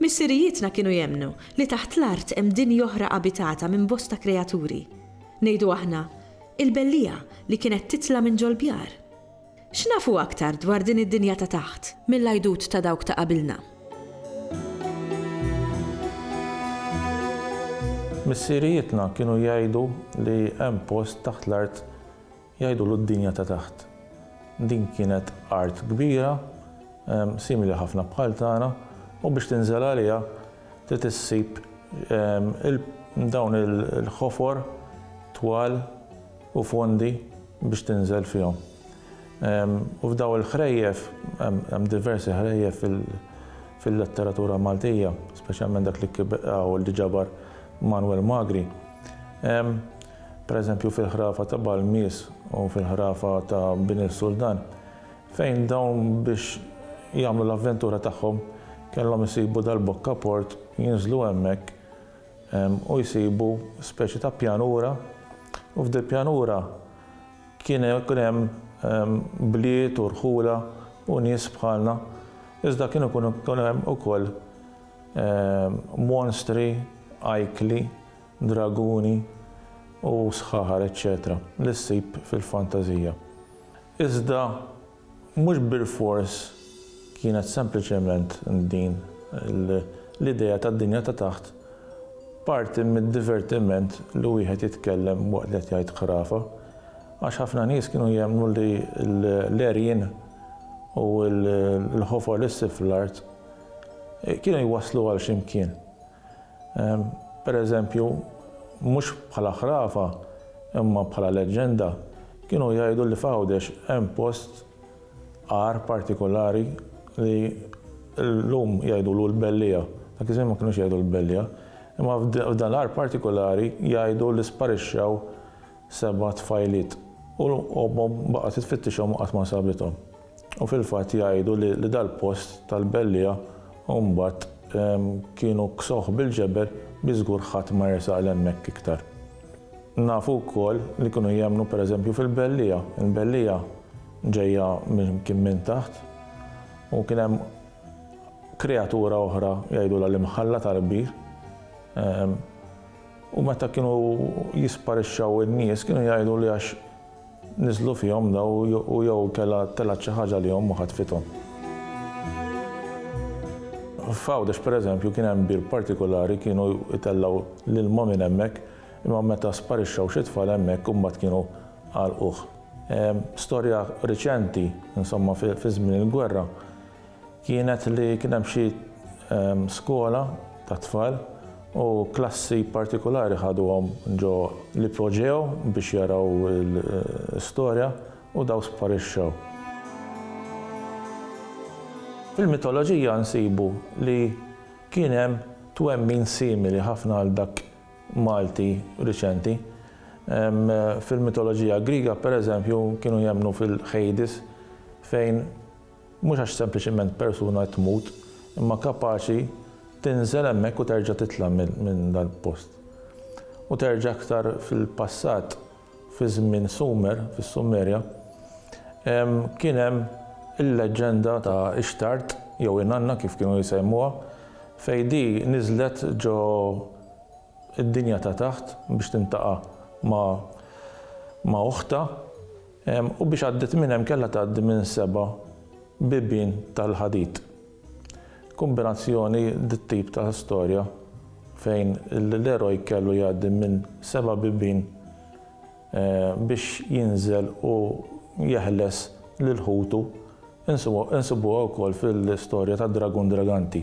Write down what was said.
Missirijietna kienu jemmnu li taħt l-art hemm dinja oħra abitata minn bosta kreaturi. Ngħidu aħna, il-belliegħa li kienet titla' minn ġol-bjar. X'nafu aktar dwar din id-dinja ta' taħt mill-għidut ta' dawk ta' qabilna? Missirijietna kienu jgħidu li hemm post taħt l-art Jgħidulu d-dinja ta' taħt. Din kienet art kbira, simili ħafna bħal tagħna, u biex tinżel għaliha trid issib dawn il-ħofor twal u fondi biex tinżel fihom. U f'daw il-ħrejjef, hemm diversi ħrejjef fil-letteratura Maltija, speċjalment dak li ġabar Manwel Magri, Pereżempju fil-ħrafa ta' Balmis u fil-ħrafa ta' Bini s-Sultan, fejn dawn biex jagħmlu l-avventura tagħhom kellhom isibu dal-bokka port, jinżlu hemmhekk u jsibu speċi ta' pjanura u f'dil-pjanura kien hemm bliet u rħula u nies bħalna iżda kien ikun hemm ukoll monstri ajkli draguni u sħaħar eċċetera li ssib fil-fantażija. Iżda mhux bilfors kienet sempliċement din l-idea tad-dinja ta' taħt parti mid-divertiment li wieħed jitkellem waqt li qed jgħid ħrafa, għax ħafna nies kienu jemmnu li l-għerien u l-ħofor li ssib fl-art kienu jwasslu għal xi mkien. Per eżempju, mhux bħala ħrafa imma bħala leġġenda, kienu jgħidu li f'Għawdex hemm post għar partikulari li llum jgħidulu l-Belliegħa, dak iż-żmien ma kinux jgħidu l-Belliegħa, imma f'dan l-għar partikulari jgħidu li sparixxew seba' tfajliet u ommhom baqgħet tfittixhom u qatt ma sabithom. U fil-fatt jgħidu li dal-post tal-belliegħa u mbagħad kienu ksuh bil-ġebel biex żgur ħadd ma jersaq 'l hemmhekk iktar. Nafu wkoll li kienu jemmnu pereżempju fil-belliegħa. Il-belliegħa ġejja minn kien minn taħt u kien hemm kreatura oħra jgħidulha l-imħalla tal-kbir. U meta kienu jisparixxaw in-nies kienu jgħidu li għax Niżlu fihom daw u jew kella telgħet xi ħaġa għalihom u ħatfithom. F'Għawdex pereżempju kien hemm bir partikulari kienu jtellgħu l-ilma minn hemmhekk imma meta sparixxew xi tfal hemmhekk imbagħad kienu għalquh. Storja riċenti, insomma fi żmien il-gwerra, Kienet li kien hemm xi skola tat-tfal u klassi partikulari ħaduhom ġo l-ipoġew biex jaraw l-istorja u dawn sparixxew. Fil-mitoloġija nsibu li kien hemm twemmin simili ħafna għal dak Malti riċenti. Fil-mitoloġija Griega, pereżempju, kienu jemmnu fil-Hades fejn Mhux għax sempliċiment persuna qed tmut, imma kapaċi tinżel hemmhekk u terġa' titla' minn dal-post. U terġa' aktar fil-passat, fi żmien Sumer, fis-Sumerja, kien hemm il-leġġenda ta' Ishtart, jew Inanna kif kienu jsejmuha, fejn di niżlet ġo d-dinja ta' taħt biex tintaqa' ma' oħtha. U biex għaddiet minn hemm kellha tgħaddi minn seba' bibien tal-ħadid. Kumbinazzjoni dit-tip ta' storja fejn l-eroj kellu jgħaddi minn seba' bibien biex jinżel u jeħles lil ħutu insibuha wkoll fil-storja ta' Dragun Draganti.